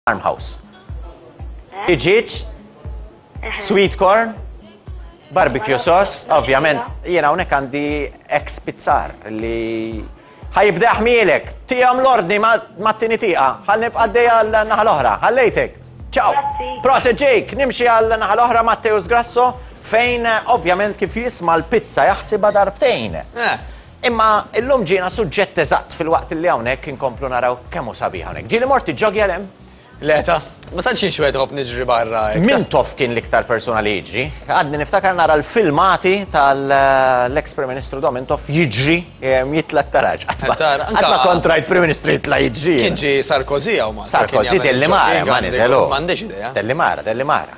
Farmhouse. Eh? Iġiġ, eh. sweet corn, barbecue sauce, ovvjament, jiena unek għandi ex pizzar li ħajibda ħmielek, tijam l-ordni ma t-tini tiqa, ħal nibqa d-deja l-naħa l-oħra, ħallejtek. Ciao! Proset ġejk, nimxi għal naħa l-oħra Matteus Grasso, fejn ovvjament kif jisma l-pizza jaħsiba darbtejn. Eh. Imma illum ġiena suġġett eżatt filwaqt li hawnhekk inkomplu naraw kemm hu sabiħ hawnhekk. Ġieli mort tiġġoggi għal hemm? Le ta, ma tantx jien x'wieħed iħobb niġri barra hekk. Mintoff kien l-iktar persuna li jiġri. Għadni niftakar nara l-filmati tal-eks Prim Ministru Dom Mintoff jiġri jitla' t-taraġ. Tara, anka- Qatt ma kont rajt Prim Ministru jitla' jiġri. Kien ġie Sarkozy hawn Malta. kien Sarkozy jagħmel telli mara, il-ġoggi ma għandu- niżelu. M'għandix idea. Telli mara, telli mara.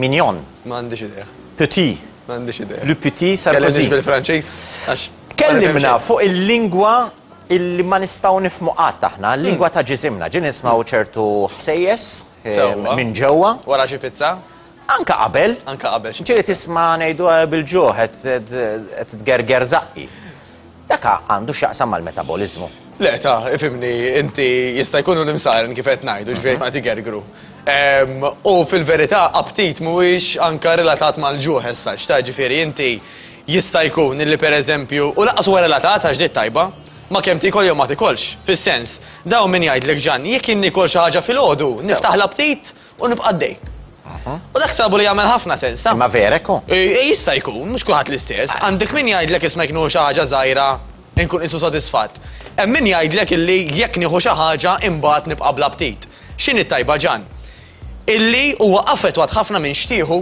Mignon. Ma għandix idea. Petit. Ma għandix idea. Le petit Sarkozy. Kellimni bil-Franċiż għax. Kellimna fuq il-lingwa illi ma nistgħu nifmu qatt aħna, l-lingwa ta' ġisimna. Ġin nismaw ċertu ħsejjes eh, minn ġewwa. Wara xi pizza? Anka qabel. Anka qabel. Ġieli tisma' ngħidu eh, bil-ġuħ qed tgerger zaqqi. Dak ha għandu x'jaqsam mal-metaboliżmu. Le ta, ifhimni inti jista' jkunu l-imsaren kif qed ngħidu ġifieri mhm. ma tigergru. Ehm, u fil-verità aptit mhuwiex anka relatat mal-ġuħ issa x'ta ġifieri inti jista' jkun li pereżempju u laqas huwa relatat għax dit tajba ma kemm tikol jew ma tikolx. Fis-sens, daw min jgħidlek ġan, jekk inni kol xi ħaġa fil-ħodu, niftaħ l-aptit u nibqa' għaddej. U dak sabu li jagħmel ħafna sens, ta? Ma vera ekku? Jista' jkun, mhux kulħadd l-istess. Għandek min jgħidlek isma' jkunu xi ħaġa żgħira inkun isu sodisfatt. Hemm min jgħidlek illi jekk nieħu xi ħaġa imbagħad nibqa' bla ptit. X'inhi tajba ġan? Illi huwa affettwat ħafna minn xtieħu.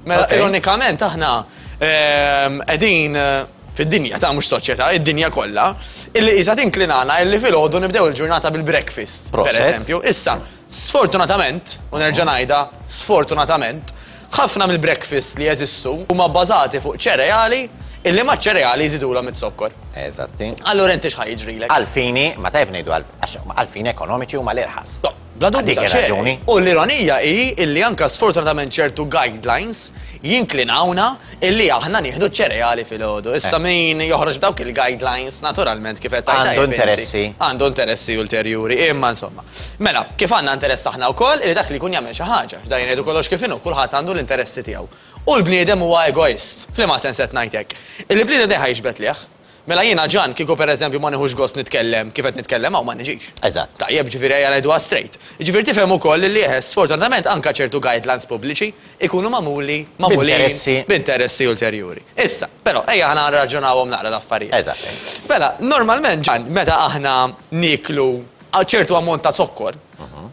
Mela ironikament aħna ehm, qegħdin eh, fid-dinja ta' mhux soċjetà, id-dinja kollha, illi qisha tinklinana illi filgħodu nibdew il-ġurnata bil-breakfast, per eżempju. Issa, Sfortunatament, u nerġa' ngħidha, sfortunatament, ħafna mill-breakfast li jeżistu huma bbażati fuq ċereali illi ma' ċereali jżidulhom it-zokkor. Eżatti. Allura inti x'ħa jiġrilek? Għalfini, ma tajb ngħidu għalfini ekonomiċi huma l-irħas. Bla dubju raġuni. U l-ironija hi illi anka sfortunatament ċertu guidelines jinklinawna illi aħna nieħdu ċereali fil-ħodu. Issa eh. min joħroġ dawk il-guidelines naturalment kif qed Għandu interessi. Għandu interessi ulterjuri, imma insomma. Mela, kif għandna interess aħna wkoll li dak li jkun jagħmel xi ħaġa, x'dan jgħidu kollox kif inhu, kulħadd għandu l-interessi tiegħu. U l-bniedem huwa egoist. F'liema sens qed ngħid hekk? Il-bniedem dejjem ħajġbed lejh. Mela jiena Ġan kieku pereżempju ma nieħux gost nitkellem kif qed nitkellem hawn ma niġix. Eżatt. Tajjeb, ġifieri ejja ngħiduha straight. Ġifieri tifhem ukoll li eħe, sfortunatament anke ċertu guidelines pubbliċi jkunu magħmuli, magħmulin b'interessi ulterjuri. Issa, però ejja aħna nirraġunawhom naqra l-affarijiet. Eżatt. Mela, normalment Ġan, meta aħna nieklu għal ċertu ammont ta' zokkor.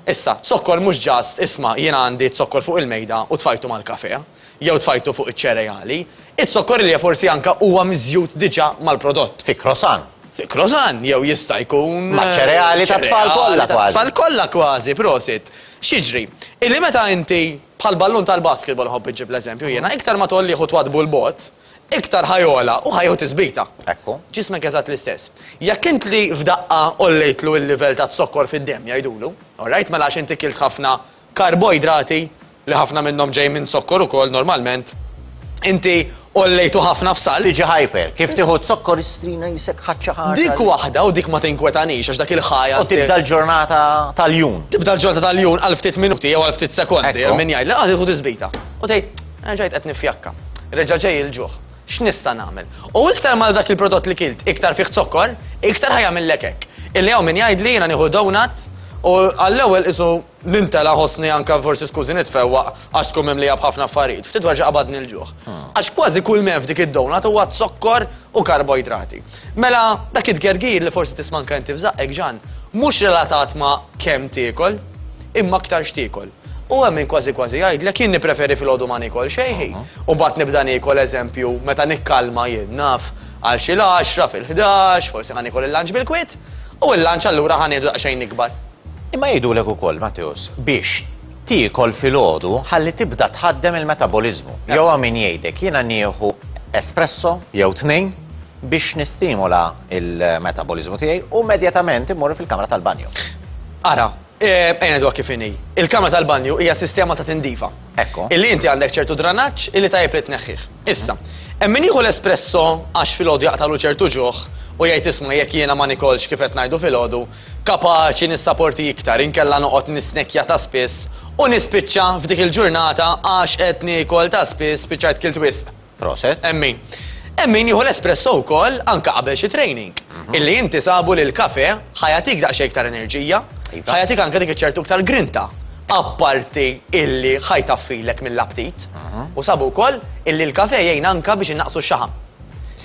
Issa, zokkor mhux just isma' jiena għandi zokkor fuq il-mejda u tfajtu mal-kafè, jew tfajtu fuq iċ-ċereali. Iz-zokkor li forsi anke huwa miżjud diġà mal-prodott. Fi croissant. Fi croissant, jew jista' jkun. Maċ-ċereali tat-tfal kollha kważi. Ċereali tat-tfal kollha kważi, prosit. X'jiġri? Illi meta inti, bħall-ballun tal-basketball nħobb inġib l-eżempju jiena, iktar ma tgħollih u twaddbu 'l bogħod, iktar ħa jogħla u ħa jieħu tisbita. Ekku. Ġismek eżatt l-istess. Jekk int li f'daqqa għollejtlu l-livell ta' zokkor fid-demm jgħidulu, alright, mela għax inti kilt ħafna karboidrati li ħafna minnhom ġej minn zokkor ukoll normalment, inti għollejtu ħafna f'sal. Tiġi hyper, kif tieħu zokkor istrina jisek ħaċċa ħaġa. Dik waħda u dik ma tinkwetanix għax dak il-ħajja. U tibda l-ġurnata tal-jun. Tibda l-ġurnata tal-jun għal ftit minuti jew għal ftit sekondi, minn jgħid, laqgħa tieħu tisbita. U tgħid, Erġajt qed nifjakka. Reġa' ġej il-ġuħ. X'nista' nagħmel? U iktar mal dak il-prodott li kilt iktar fih zokkor, iktar ħajamillek hekk. Illi hawn min jgħidli jiena nieħu donut u għall-ewwel qisu nintela' ħossni anke forsi skużi nitfewwaq għax tkun mimlija b'ħafna affarijiet. Ftit wara qabadni l-ġuħ. Għax kważi kull m'hemm f'dik id-donut huwa zokkor u karboidrati. Mela, dak it-tgergir li forsi tisma' anke inti f'żaqqek, Ġann, mhux relatat ma' kemm tiekol, imma aktar x'tiekol. U hemm min kważi kważi jgħidlek jien nippreferi filgħodu ma niekol xejn ħin, u mbagħad nibda niekol eżempju meta nikkalma jien naf għal xi l-għaxra fil-ħdax, forsi ħa niekol il-lunch bil-kwiet, u l-lunch allura ħa nieħdu daqsxejn ikbar. Imma jgħidulek ukoll, Matteus, biex tiekol filgħodu ħalli tibda tħaddem il-metaboliżmu. Jew hawn min jgħidek jiena nieħu espresso jew tnejn biex nistimula il-metaboliżmu tiegħi u immedjatament immur fil-kamra tal-banjo. Ara, Eh, ejna dwa kif inhi. Il-kamra tal-banju hija sistema ta' tindifa. Ekku. Illi inti għandek ċertu dranaġġ illi tajjeb li tneħħih. Issa, hemm min jieħu l-espresso għax filgħodu jaqtalu ċertu ġuħ u jgħid isma' jekk jiena ma nikolx kif qed ngħidu filgħodu, kapaċi nissaporti iktar inkella noqgħod nisnekja ta' spiss u nispiċċa f'dik il-ġurnata għax qed niekol ta' spiss spiċċajt kilt wisq. Proset. Hemm min. Hemm min jieħu l-espresso wkoll anke qabel xi training. Mhm. Illi inti sabu li l-kafe ħajatik daqsxejn iktar enerġija, iva. ħajatik anke dik iċertu iktar grinta. Apparti illi ħajtaffilek mill-aptit mhm. u sabu wkoll illi l-kafe jgħin anke biex innaqsu x-xaħam.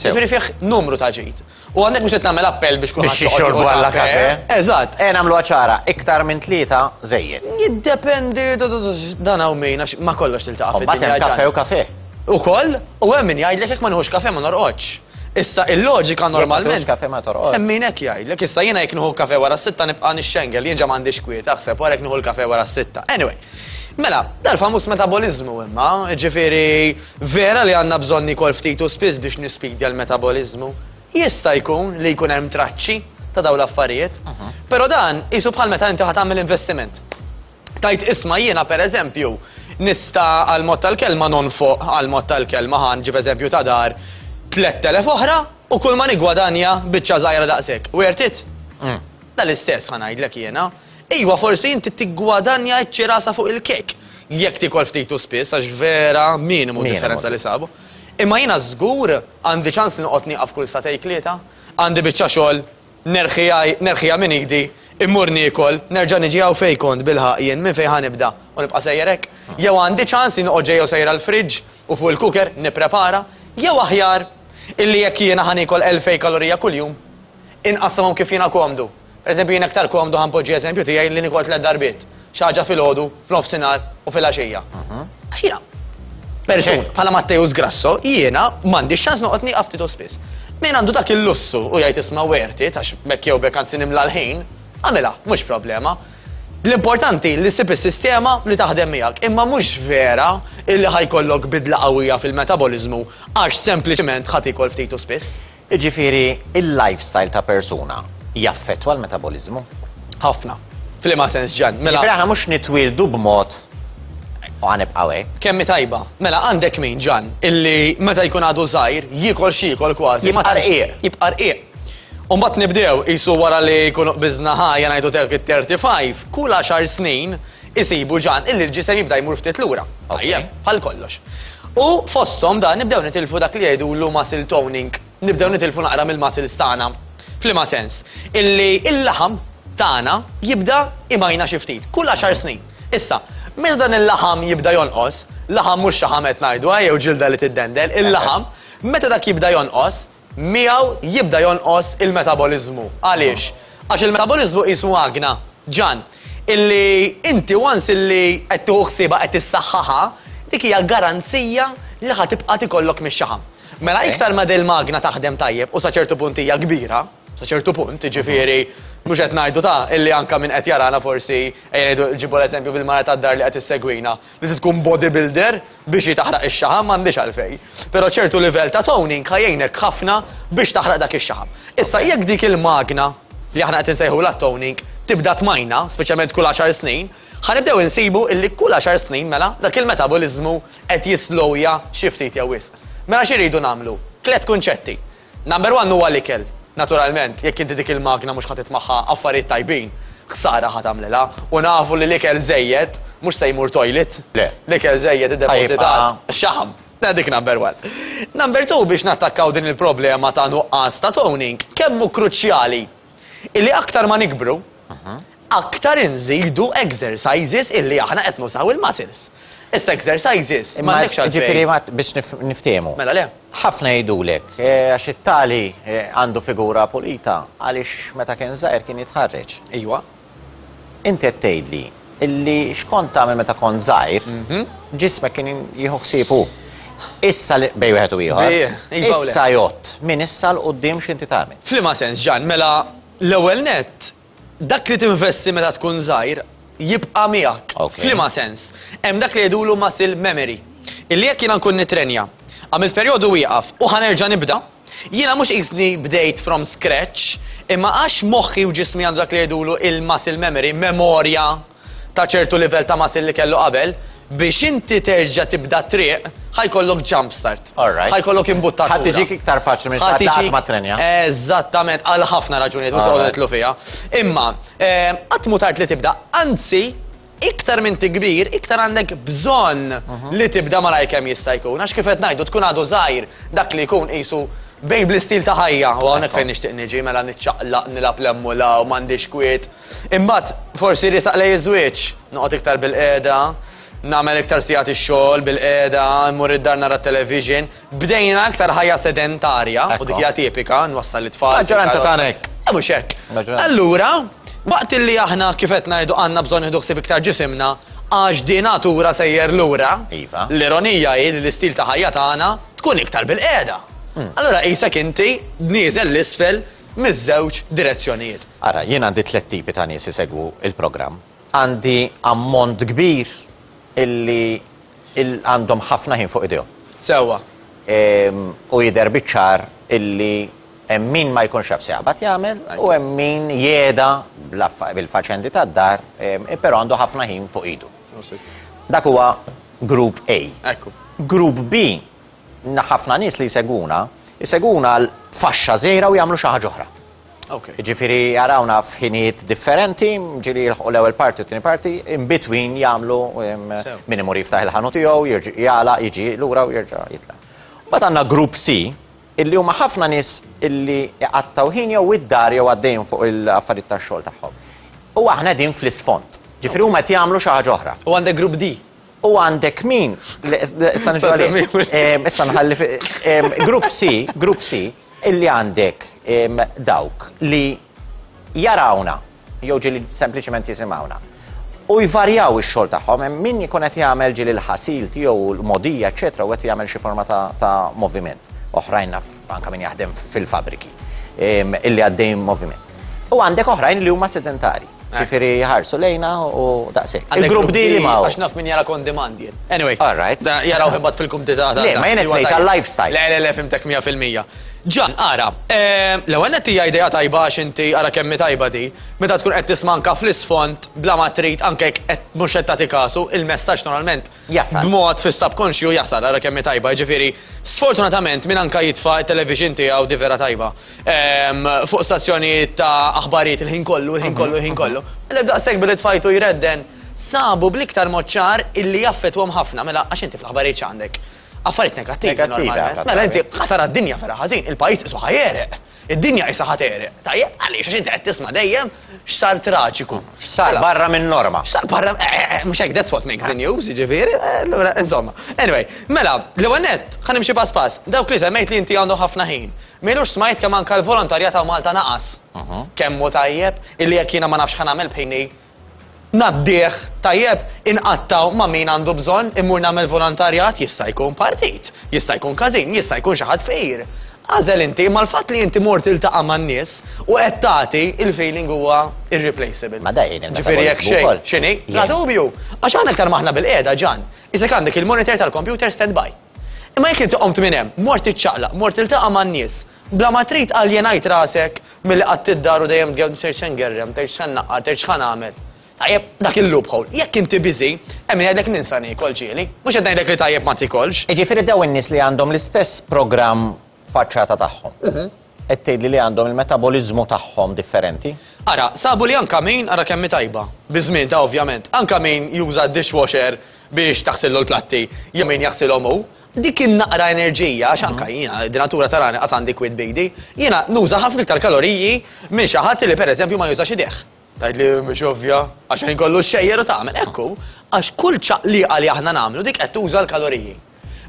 Ġifieri fih numru ta' ġid. U hawnhekk mhux qed nagħmel appell biex kulħadd joqgħod jieħu l-kafe. Eżatt. Ejja nagħmluha ċara, iktar minn tlieta żejjed. Jiddependi, dan hawn min għax ma' kollox tiltaqa' fid-dinja. Imbagħad hemm kafe u kafe. Ukoll, u hemm min jgħidlek jekk ma nieħux kafe ma norqodx. Issa il-loġika normalment. Mhux kafe ma torqodx. Hemm min hekk jgħidlek, issa jiena jekk nieħu kafe wara s-sitta nibqa' nixxengel, jien ġa m'għandix kwiet, aħseb wara jekk nieħu l-kafe wara s-sitta. Anyway, mela, dal-famuż metaboliżmu imma, ġifieri Vera li għandna bżonn niekol ftit u spiss biex nispidja l-metaboliżmu. Jista' jkun li jkun hemm traċċi ta' dawn l-affarijiet. Però dan qisu bħal meta inti ħa tagħmel investiment. Tgħid isma' jiena pereżempju nista' għal mod tal-kelma nonfoq għal mod tal-kelma ħa nġib eżempju ta' dar, 3,000 oħra u kulma niggwadanja biċċa żgħira daqshekk. Worth it? Dal-istess ħa ngħidlek jiena. Iwa, forsi inti tiggwadanja ċ-ċirasa fuq il-kejk, jekk tiekol ftit u spiss għax vera minimu d-differenza li sabu. Imma jiena żgur għandi ċans li noqgħod nieqaf kull satej tlieta, għandi biċċa xogħol, nerħiha minn idi, immur niekol, nerġa' niġi hawn fejn kont bilħaqq jien, minn fejn ħa nibda u nibqa' sejjer hekk? Jew għandi ċans li noqgħod ġejja u sejra l-fridge u fuq il-cooker nipprepara? Jew aħjar illi jekk jiena ħa niekol elfej kalorija kuljum, inqassamhom kif jiena komdu? Per eżempju, jien aktar komdu ħa npoġġi eżempju tiegħi li nikol tliet darbiet, xi ħaġa filgħodu, f'nofsinhar u filgħaxija. Għax jiena persuna bħala Matteus Grasso, jiena m'għandix ċans noqgħod nieqaf ftit u spiss. Min għandu dak il-lussu u jgħid isma' werti għax bekk jew bekk anzi nimla l-ħin, għamilha, mhux problema. L-importanti li ssib is-sistema li taħdem miegħek, imma mhux vera illi ħajkollok bidla qawwija fil-metaboliżmu għax sempliċement ħadd ikol ftit u spiss. Jiġifieri, il-lifestyle ta' persuna jaffettwa l-metaboliżmu? Ħafna. F'liema sens, Ġann? Mela. Jiġifieri aħna mhux nitwieldu b'mod u ħa nibqgħu hekk. Kemm hi tajba. Mela, għandek min, Ġann, illi meta jkun għadu żgħir, jiekol x'jiekol kważi. Jibqa' rqiq. Jibqa' rqiq. U mbagħad nibdew, qisu wara li jkunu qbiżna ħajja ngħidu dawk it-35, kull għaxar snin, Isibu ġan illi l-ġisem jibda jmur ftit lura. Tajjeb, bħal kollox. U fosthom dan nibdew nitilfu dak li jgħidulu muscle toning. Nibdew nitilfu naqra mill-muscles tagħna. F'liema sens? Illi il-laħam tagħna jibda imajna xi ftit, kull għaxar snin. Issa, meta dan il-laħam jibda jonqos, laħam mhux xaħam qed ngħidu, jew ġilda li tiddendel, il-laħam, meta dak jibda jonqos, miegħu jibda jonqos il-metaboliżmu. Għaliex? Għax il-metaboliżmu qisu magna, ġann, illi inti once illi qed tieħu ħsiebha qed issaħħaħha, dik hija garanzija li ħa tibqa' tikollok mix-xaħam. Mela iktar ma dil-magna taħdem tajjeb u sa ċertu punt hija kbira, sa ċertu punt, jiġifieri mhux qed ngħidu ta' illi anke min qed jarana forsi ejja ngħidu ġibu l-eżempju fil-mara tad-dar li qed issegwina, li tkun bodybuilder, Biex hi taħraq ix-xaħam m'għandhiex għalfejn, però ċertu livell ta' toning ħa jgħinek ħafna biex taħraq dak ix-xaħam. Issa jekk dik il-magna li aħna qed insejħulha t-toning tibda tmajna, speċjalment kull għaxar snin, ħa nibdew insibu illi kull għaxar snin mela dak il-metaboliżmu qed jislowja xi ftit jew wisq. Mela x'irridu nagħmlu? Tliet kunċetti. Number one huwa l-ikel. Naturalment, jekk inti dik il-magna mhux ħa tit magħha affarijiet tajbin, ħsara ħa tagħmlilha. U nafu li l-ikel żejjed mhux se jmur toilet. Le. L-ikel żejjed iddepożitat. Xaħam. Mela dik number one. Number two biex nattakkaw din il-problema ta' nuqqas ta' toning, kemm hu kruċjali illi aktar ma nikbru, aktar inżidu exercises illi aħna qed nużaw il-muscles. Issa exercises m'għandekx għalfejn. Jiġifieri ma biex niftehmu. Mela le. Ħafna jgħidulek għax it-tali għandu figura pulita għaliex meta kien żgħir kien jitħarreġ. Ejwa. Inti qed tgħidli illi xkont tagħmel meta kont żgħir, ġismek kien jieħu ħsiebu. Issa li bej wieħed u ieħor. Issa jott, min issa l qudiem x'inti tagħmel. F'liema sens ġan, mela l-ewwel nett Dak li tinvesti meta tkun żgħir jibqa' miegħek. Okay. F'liema sens, hemm dak li jgħidulu muscle memory. Illi jekk jiena nkun nitrenja, għamilt perjodu wieqaf u ħanerġa' nibda, jiena mhux qisni bdejt from scratch, imma għax moħħi u ġismi għandu dak li jgħidulu il-muscle memory, memorja ta' ċertu livell ta' muscle li kellu qabel, biex inti terġa' tibda t-triq, ħa jkollok jump start. Alright. Ħa jkollok imbuttatura. Ħa tiġik iktar faċli minn xi ħadd li qatt ma ttrenja. Eżattament, għal ħafna raġunijiet mhux se noqogħdu nidħlu fiha. Imma, qatt mhu tard li tibda, anzi, iktar m'inti kbir, iktar għandek bżonn li tibda malajr kemm jista' jkun. Għax kif qed ngħidu, tkun għadu żgħir, dak li jkun qisu bejn bl-istil ta' ħajja, u hawnhekk fejn nixtieq niġi, mela niċċaqlaq, nilgħab l-hemm u l-hawn, m'għandix kwiet. Imbagħad forsi jrisaq lejn iż-żwieġ. Noqgħod iktar bilqiegħda, nagħmel iktar sigħat ix-xogħol bilqiegħda, immur id-dar nara t-television. Bdejna iktar ħajja sedentarja u dik hija tipika, nwassal lit-tfal. Maġġoranza tagħna hekk. Eh, mhux hekk. Allura, waqt li aħna kif qed ngħidu għandna bżonn nieħdu ħsieb iktar ġisimna, għax din natura sejjer lura, iva. l-ironija hi li l-istil ta' ħajja tagħna tkun iktar bil-qiegħda. Hmm. Allura qisek inti nieżel l-isfel miż-żewġ direzzjonijiet. Ara, jien għandi tliet tipi ta' nies isegwu l-programm. Għandi ammont kbir illi għandhom ħafna ħin fuq idejhom. Sewwa. U jidher biċ-ċar illi hemm min ma jkunx jaf se jaqbad jagħmel u hemm min jeda bil-faċendi tad-dar, però għandu ħafna ħin fuq idu. Dak huwa grupp A. Grupp B ħafna nies li jsegwuna, jsegwuna għal faxxa żgħira u jagħmlu xi ħaġa oħra. Okay. Ġifiri jarawna f'ħinijiet differenti, ġiri jilħu l-ewel parti u t-tini parti, in between jamlu minn imur jiftaħ il-ħanu tiegħu, jirġi jala, jiġi lura u jirġa jitla. Bat għandna grupp C, illi huma ħafna nies illi għattaw ħin jew id-dar jew għaddejn fuq il-affarijiet tax-xogħol tagħhom. U aħna din fl-isfond. Ġifiri huma qed jagħmlu xi ħaġa oħra. U għandek grupp D. U għandek min, issa nġu għalih, issa nħalli, grupp C, grupp C, illi għandek dawk li jarawna, jew ġili sempliciment jisimawna. U jvarjaw ix-xogħol tagħhom, min jkun qed jagħmel ġili l-ħasil tiegħu l-modija, eċetera, u qed jagħmel xi forma ta' moviment. Oħrajn naf anke min jaħdem fil-fabbriki illi għaddej moviment. U għandek oħrajn li huma sedentarji. Eh. Ġifieri jħarsu lejna u daqshekk. Il-grupp di li ma. Għax naf min jara kon demand jien. Anyway. All right. Jaraw imbagħad fil-kumdita ta' Le, ma jien qed tal-lifestyle. Le, le, le, fimtek 100%. Ġan, ara, eh, l-ewwel qed hija idea tajba għax inti ara kemm tajba di, meta tkun qed tismanka fl-isfond bla ma trid anke qed mhux qed tagħti kasu, il-messaġġ normalment jasal. B'mod fis-subkonxju jasal, ara kemm hi tajba, jiġifieri sfortunatament min anka jitfa' t-television tiegħu di vera tajba. Ehm, fuq stazzjonijiet ta' aħbarijiet il-ħin kollu, il-ħin kollu, il-ħin mhm, kollu. Mhm. Mela daqshekk billi tfajtu jredden sabu bl-iktar moċċar illi jaffetwhom ħafna, mela għax inti fl-aħbarijiet x'għandek. Affarijiet negattivi. Mela inti ħatar d-dinja vera ħażin, il-pajjiż isu ħajereq. Id-dinja qisha ħa tegħreq. Tajjeb, għaliex? Għax inti qed tisma' dejjem x'sar traġiku. X'sar barra min-norma. X'sar barra, eh, eh, eh, mhux hekk that's what makes the news, jiġifieri, allura insomma. Anyway, mela, l-ewwel nett, ħa nimxi pass pass. Dawk li semmejt li inti għandhom ħafna ħin. M'ilux smajt kemm anke l-volontarjat hawn Malta naqas. Kemm hu tajjeb, illi jekk jiena ma nafx ħa nagħmel b'ħini. ngħaddih tajjeb, inqattgħu ma' min għandu bżonn, immur nagħmel volontarjat, jista' jkun partit, jista' jkun każin, jista' jkun xi ħadd fqir. Agħżel inti, imma l-fatt li inti mort tiltaqa' man-nies u qed tagħti, il-feeling huwa irreplaceable. Ma da jgħin il-metabolismu wkoll. Ġifieri jekk xejn, x'inhi? Bla dubju. Għax aħna iktar m'aħna bil-qiegħda, Ġan, isek għandek il-monitor tal-kompjuter standby. Imma jekk inti qomt minn hemm, mort tiċċaqlaq, mort tiltaqa' man-nies, Bla ma trid aljenajt rasek milli qatt id-dar u dejjem tgerrem ser se ngerrem, tgħidx se nnaqqar, tgħidx x'ħa nagħmel. Tajjeb, dak il-loophole, jekk inti busy, hemm min jgħidlek ninsa niekol, ġieli. Mhux qed ngħidlek li tajjeb ma tiekolx. Jiġifieri dawn in-nies li għandhom l-istess programm faċċata tagħhom, qed tgħidli li għandhom il-metaboliżmu tagħhom differenti? Ara, sabu li anke min, ara kemm hi tajba, bi żmienha ovvjament, anke min juża d-dishwasher biex taħsillu l-platti jew min jaħsilhom hu, Dik in-naqra enerġija, għax anka jiena, d-natura tarani qas għandi kwid bidi, jiena nuża ħafna iktar kaloriji minn xi ħadd li pereżempju ma jużax idejh. Tgħid li mhux ovvja, għax ħin kollu xxejjer u tagħmel. Ekku, għax kull ċaqliqa li aħna nagħmlu dik qed tuża l-kaloriji.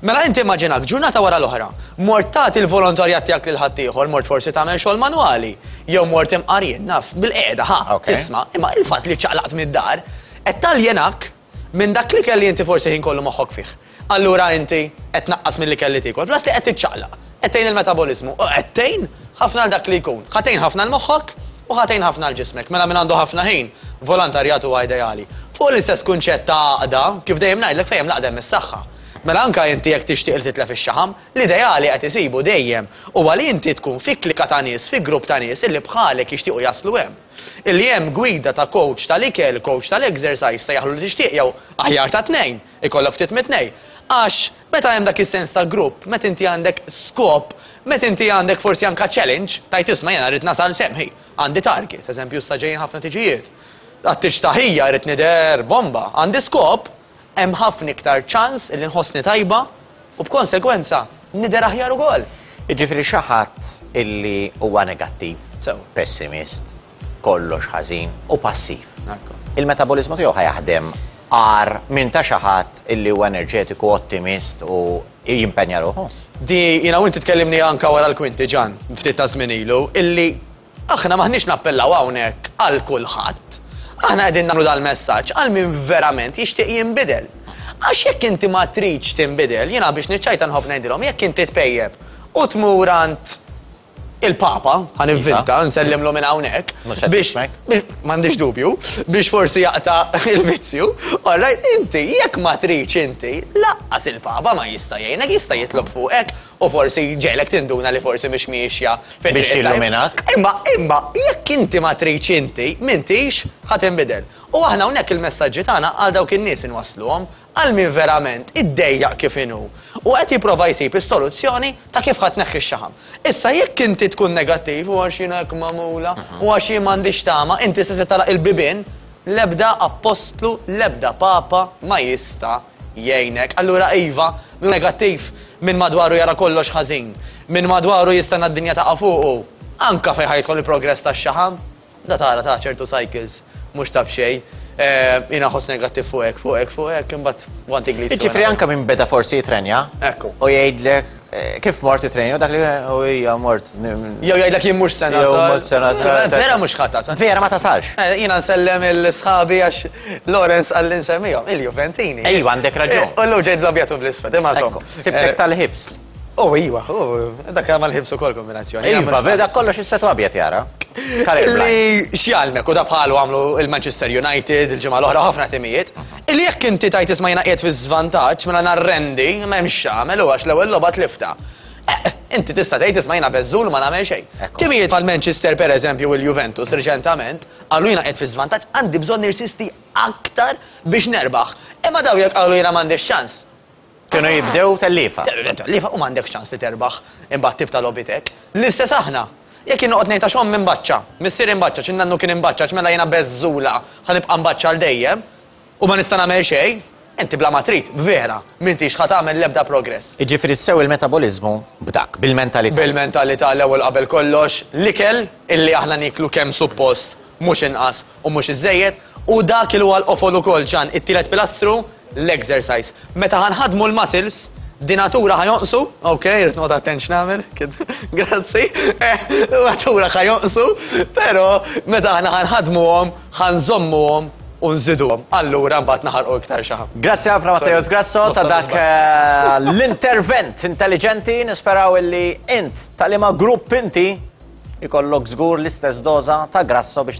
Mela inti immaġinak ġurnata wara l-oħra, mort tagħti l-volontarjat tiegħek lil ħaddieħor, mort forsi tagħmel xogħol manwali, jew mort imqarjien naf bil-qiegħda ħa tisma', imma il-fatt li ċaqlaqt mid-dar qed taljenak Minn dak l-ikel li inti forsi ħin kollu moħħok fih. Allura inti qed tnaqqas mill-ikel li tiekol, plus li qed tiċċaqlaq, qed tgħin il-metaboliżmu u qed tgħin ħafna għal dak li jkun. Ħa tgħin ħafna 'l moħħok u ħa tgħin ħafna 'l ġismek. Mela min għandu ħafna ħin, volontarjat huwa ideali. Fuq l-istess kunċett ta' għaqda, kif dejjem ngħidlek fejn hemm l-għaqda hemm is-saħħa. Mela anka inti jekk tixtieq li titlef ix-xaħam, l-ideali qed isibu dejjem huwa li inti tkun fi klika ta' nies, fi grupp ta' nies illi bħalek jixtiequ jaslu hemm. Illi hemm gwida ta' kowċ tal-ikel, kowċ tal-ekżersajż, sejjaħlu li tixtieq jew, aħjar ta' tnejn, ikollok ftit mit-tnejn. Għax, meta hemm dak is-sens ta' grupp, meta inti għandek skop, meta inti għandek forsi anke challenge, tgħid isma' jiena rrid nasal sem, hi, għandi target, eżempju issa ġejjin ħafna tiġijiet, għat-tiġ ta' ħija rrid nidher bomba, għandi skop, hemm ħafna iktar ċans li nħossni tajba u b'konsegwenza nidher aħjar ukoll. Jiġifieri xi ħadd illi huwa negattiv, pessimist, kollox ħażin u passiv. Il-metaboliżmu tiegħu ħajaħdem għar minn ta' xi ħadd illi huwa enerġetiku, ottimist u jimpenja ruħu. Di jiena u inti tkellimni anke wara l-kwinti ġan, ftit ta' żmien ilu, illi Aħna m'aħniex nappellaw hawnhekk għal kulħadd. Aħna qegħdin nagħmlu dal-messaġġ għal min verament jixtieq jinbidel. Għax jekk inti ma tridx tinbidel, jiena biex niċċajta nħobb ngħidilhom jekk inti tpejjeb u tmur għand il-Papa, għan inventa, nsellimlu minn hawnhekk, biex m'għandix dubju, biex forsi jaqta il-vizzju, orrajt inti jekk ma tridx inti, laqqas il-Papa ma jista' jgħinek jista' jitlob fuqek u forsi jġegħlek tinduna li forsi mhix miexja fit-triq it-tajba. Biex jilluminak. Imma, imma, jekk inti ma tridx inti, m'intix ħa tinbidel. U aħna hawnhekk il-messaġġi tagħna għal dawk in-nies inwassluhom, għal min verament iddejjaq kif inhu, u qed jipprova jsib is-soluzzjoni ta' kif ħa tneħħi x-xaħam. Issa jekk inti tkun negattiv, u għax jiena hekk magħmula, u għax jien m'għandix tama, inti se se tagħlaq il-bibien, l-ebda appostlu, l-ebda papa ma jista' jgħinek. Allura iva, hu negattiv, min madwaru jara kollox ħażin. Min madwaru jistenna d-dinja taqa' fuqu. Anke fejn ħa jidħol il-progress tax-xaħam, da tara ta' ċertu cycles mhux ta' b'xejn. Jien aħoss negattiv fuq hekk, fuq hekk, fuq hekk, imbagħad want iglisi. Jiġifieri anke min beda forsi jitrenja. Ekku. U jgħidlek. Kif mort it-trejn u dak li u hija mort. Jew jgħidlek jien mhux sena. Jew mort sena. Vera mhux ħadd tasal. Vera ma tasalx. Eh, jiena nsellem il-sħabi għax Lorenz għalli nsemmihom, il-Juventini. Ejwa għandek raġun. Eh, u l ġejt żabjatu bl-isfed, imma Sibtek eh, tal-ħibs. U oh, iwa, u oh, dak għamal ħibsu kol kombinazzjoni. Iva, veda kollox istetu għabjet jara. Li xjalmek u dabħalu għamlu il-Manchester United, il-ġimgħa l-oħra ħafna timijiet, Illi jekk inti tgħid isma' jiena qiegħed fiż-żvantaġġ, mela narrendi, ma hemm x'agħmel u għax l-ewwel logħba tliftha. Eh, inti tista' tgħid isma' jiena beżżul u ma nagħmel xejn. Timijiet bħal Manchester pereżempju u l-Juventus riċentament qalu jiena qiegħed fiż-żvantaġġ għandi bżonn nirsisti aktar biex nerbaħ. Imma dawn jekk qalu jiena m'għandix ċans, Kienu jibdew telliefa. Telliefa, telliefa u m'għandekx ċans li terbaħ imbagħad tibta' logħbiet hekk. L-istess aħna. Jekk jien noqgħod ngħid għax ommi mbaċċa, missieri mbaċċa, xi nannu kien imbaċċaċ mela jiena beżżula ħa nibqa' mbaċċa għal dejjem u ma nista' nagħmel xejn, inti bla ma trid, vera, m'intix ħa tagħmel l-ebda progress. Jiġifieri sew il-metaboliżmu b'dak, bil-mentalità. Bil-mentalità l-ewwel qabel kollox, l-ikel illi aħna nieklu kemm suppost mhux inqas U mhux iżżejjed, hu dak il huwa l-qofol ukoll ġan it-tielet pilastru, l-exercise. Meta ħa nħaddmu l-muscles, dinatura ħa jonqsu, ok, rrid noqgħod attent x'nagħmel, grazzi, dinatura ħa jonqsu, però meta aħna ħa nħaddmuhom, ħa nżommuhom unżiduhom. Allura mbagħad naħarqu iktar xi ħadd. Grazzi ħafna Matteo Sgrasso ta' dak eh, l-intervent intelligenti nisperaw illi int tal-ima grupp inti ikollok żgur l-istess doża ta' grasso biex